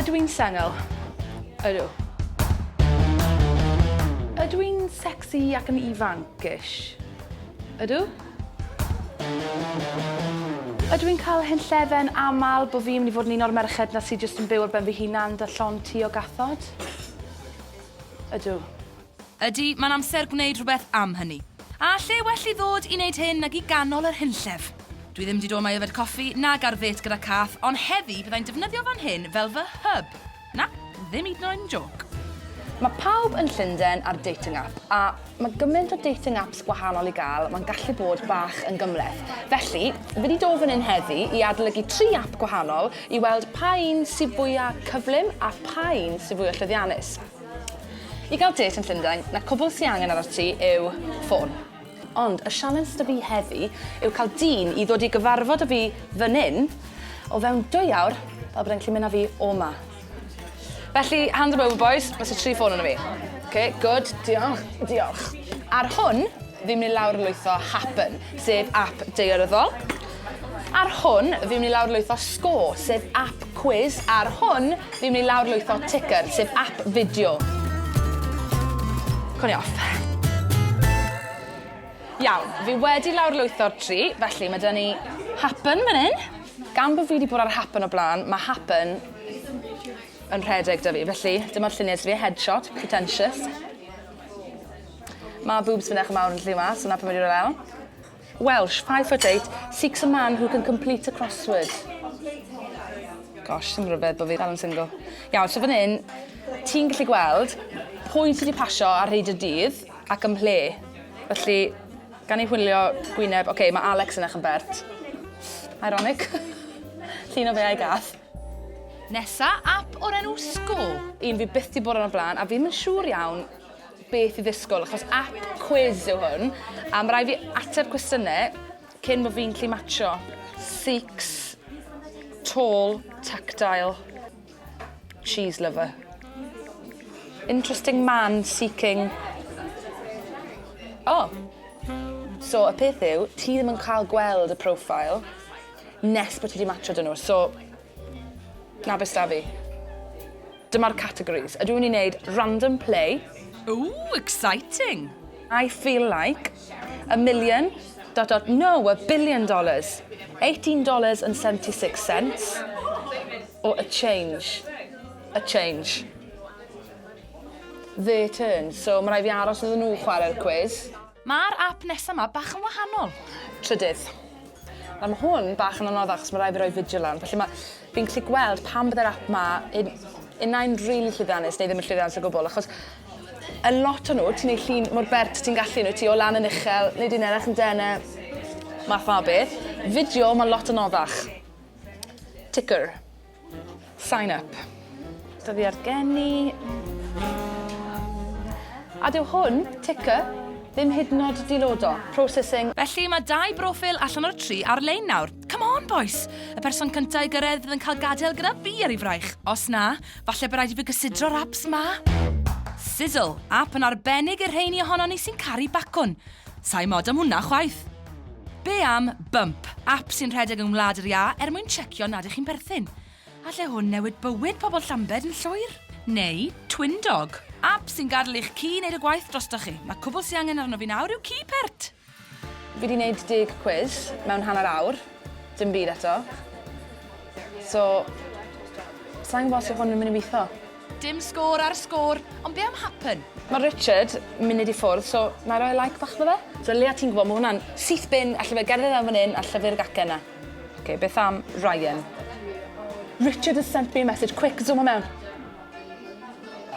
Ydw i'n sengl? Ydw. Ydw i'n sexy ac yn ifanc-ish? Ydw. Ydw i'n cael hen llefen aml bod fi'n mynd i fod yn un o'r merched na sydd jyst yn byw ar ben fy hunan 'da llond tu o gathod? Ydw. Ydy, mae'n amser gwneud rhywbeth am hynny. A lle well i ddod i wneud hyn nag i ganol yr hunllef? Dwi ddim 'di dod 'ma i yfed coffi nag ar ddêt gyda cath, ond heddi fyddai'n defnyddio fan hyn fel fy hub. Na, ddim hyd yn oed yn jôc. Mae pawb yn Llundain ar dating app, a mae gymaint o dating apps gwahanol i gael, mae'n gallu bod bach yn gymhleth. Felly, fi 'di dod fan hyn heddi i adolygu tri app gwahanol i weld pa un sy fwya' cyflym a pha un sy fwya' llwyddiannus. I gael dêt yn Llundain, na cwbl sy angen arnat ti yw ffôn. Ond y sialens 'da fi heddi yw cael dyn i ddod i gyfarfod â fi fan 'yn, o fewn dwy awr, fel bod e'n gallu mynd â fi o 'ma. Felly, hand 'em over boys, ma' 'se tri ffôn arno fi. Ok, good, diolch, diolch. Ar hwn, fi'n mynd i lawr lwytho Happen, sef app daearyddol. Ar hwn, fi'n mynd i lawrlwytho score, sef app quiz. Ar hwn, fi'n mynd i lawrlwytho ticker, sef app fideo. Cwn i off. Iawn, fi wedi lawrlwytho'r tri, felly mae dyna ni happen fan hyn. Gan bod fi wedi bod ar happen o blaen, mae happen yn rhedeg da fi, felly dyma'r lluniau sydd fi, headshot, pretentious. Mae boobs fi'n eich mawr yn lli yma, so na pan wedi rhoi lawr. Welsh, five foot eight, seeks a man who can complete a crossword. Gosh, sy'n rhyfedd bod fi dal yn single. Iawn, so fan hyn, ti'n gallu gweld pwy sydd wedi pasio ar hyd y dydd ac ym mhle. Felly, gan ei hwylio gwyneb, oce, okay, mae Alex yn eich yn bert. Ironic. Llun o fe a'i gath. Nesa, app o'r enw Score. Un fi byth di bod yn y blaen, a fi'n mynd siŵr iawn beth i ddisgwyl, achos app quiz yw hwn, a mae rhaid fi ateb cwestiynau cyn bod fi'n lli matcho. Six, tall, tactile, cheese lover. Interesting man seeking... Oh! So, y peth yw, ti ddim yn cael gweld y profile nes bod ti wedi matcho dyn nhw, so... Na beth da fi. Dyma'r categories. Ydw i'n wneud random play? Ooh, exciting! I feel like a million dot dot no, a billion dollars. Eighteen dollars and seventy six cents or a change. A change. Their turn. So, ma' raid fi aros iddyn nhw chwarae'r cwis. Mae'r ap nesa ma bach yn wahanol. Trydydd. Nawr mae hwn bach yn anoddach achos mae rhaid fi roi fideo lan, felly mae... fi'n gallu gweld pan byddai'r ap ma un... unai'n rili llwyddiannus neu ddim yn llwyddiannus o gwbl, achos y lot o nhw, ti'n ei llun mor bert ti'n gallu nhw, ti o lan yn uchel, neu dyn erach yn dene, math ma beth. Fideo, mae lot anoddach. Ticker. Sign up. Dyddiad geni. A dyw hwn, ticker, ddim hyd yn oed dilodo. Processing. Felly mae dau broffil allan o'r tri ar-lein nawr. Come on, bois! Y person cyntaf i gyrraedd fydd yn cael gadael gyda fi ar ei fraich. Os na, falle bod rhaid i fi gysidro'r apps ma. Sizzle, app yn arbennig i'r rheini ohonon ni sy'n caru bacwn. Sai mod am hwnna chwaith. Be am Bump, ap sy'n rhedeg yng Ngwlad yr Iâ er mwyn checio nad ych chi'n perthyn? Alle hwn newid bywyd pobl Llambed yn llwyr. Neu Twindog, ap sy'n gadel i'ch ci wneud y gwaith drostoch chi. Mae cwbl sy angen arno fi nawr yw ci pert! Fi 'di neud deg cwis mewn hanner awr, dim byd eto. So, sai'n gwbo os yw hwn yn myn' i witho. Dim sgôr ar sgôr, ond be am happen? Mae Richard munud i ffwrdd, so na i roi like bach iddo fe? Ddylia ti'n gwybod, mae hwnna'n syth bin, alle fe gerdded am fan hyn a llyfu'r gacen na. Ok, beth am Ryan? Richard has sent me a message, quick, zoom o mewn!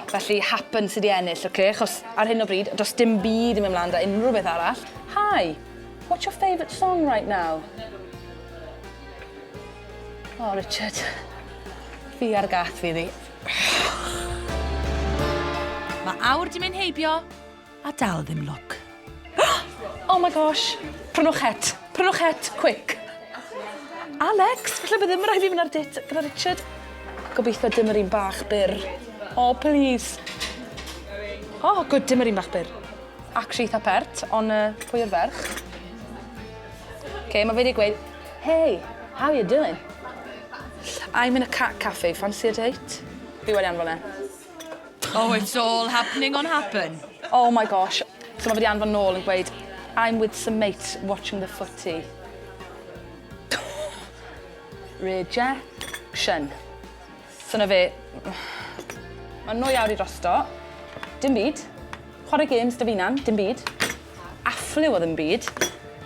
Felly, happen sydd wedi ennill, ok, achos ar hyn o bryd, does dim byd yn mynd mlaen da unrhyw beth arall. Hi, what's your favourite song right now? O, Richard. Fi ar gath fi ddi. Mae awr di mynd heibio, a dal ddim look. Oh my gosh! Prynwch het. Prynwch het, quick. Alex, falle bod ddim yn rhaid i fynd ar dit gyda Richard. Gobeithio dim yr un bach byr. Oh, please. Oh, good, dim yr un bach byr. Actually, eitha pert, ond uh, pwy yw'r ferch? OK, mae fe wedi gweud, Hey, how you doing? I'm in a cat cafe, fancy a date? Fi wedi anfon e. Oh, it's all happening on happen. Oh my gosh. So mae wedi anfon nôl yn gweud, I'm with some mates watching the footy. Rejection. So na fe. Mae nwy awr i drosto. Dim byd. Chwarae games da fi nan, dim byd. Affliw o ddim byd.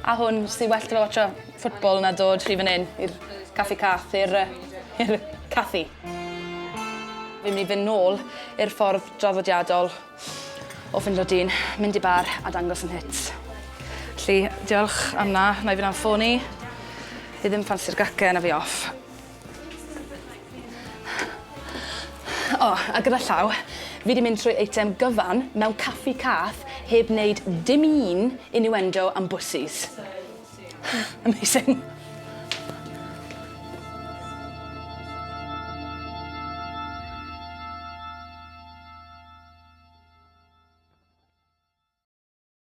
A hwn, sy'n well da fe watcha ffwtbol na dod rhy fan hyn i'r caffi cath, i'r uh, caffi. Fi'n mynd i fynd nôl i'r ffordd draddodiadol o fynd o dyn, mynd i bar a dangos yn hits. Felly, diolch am na, na i fynd am ffôn i. Fi ddim ffansi'r gacen a fi off. O, a gyda llaw, fi wedi mynd trwy eitem gyfan mewn caffi cath heb wneud dim un innuendo am bwssis. Amazing.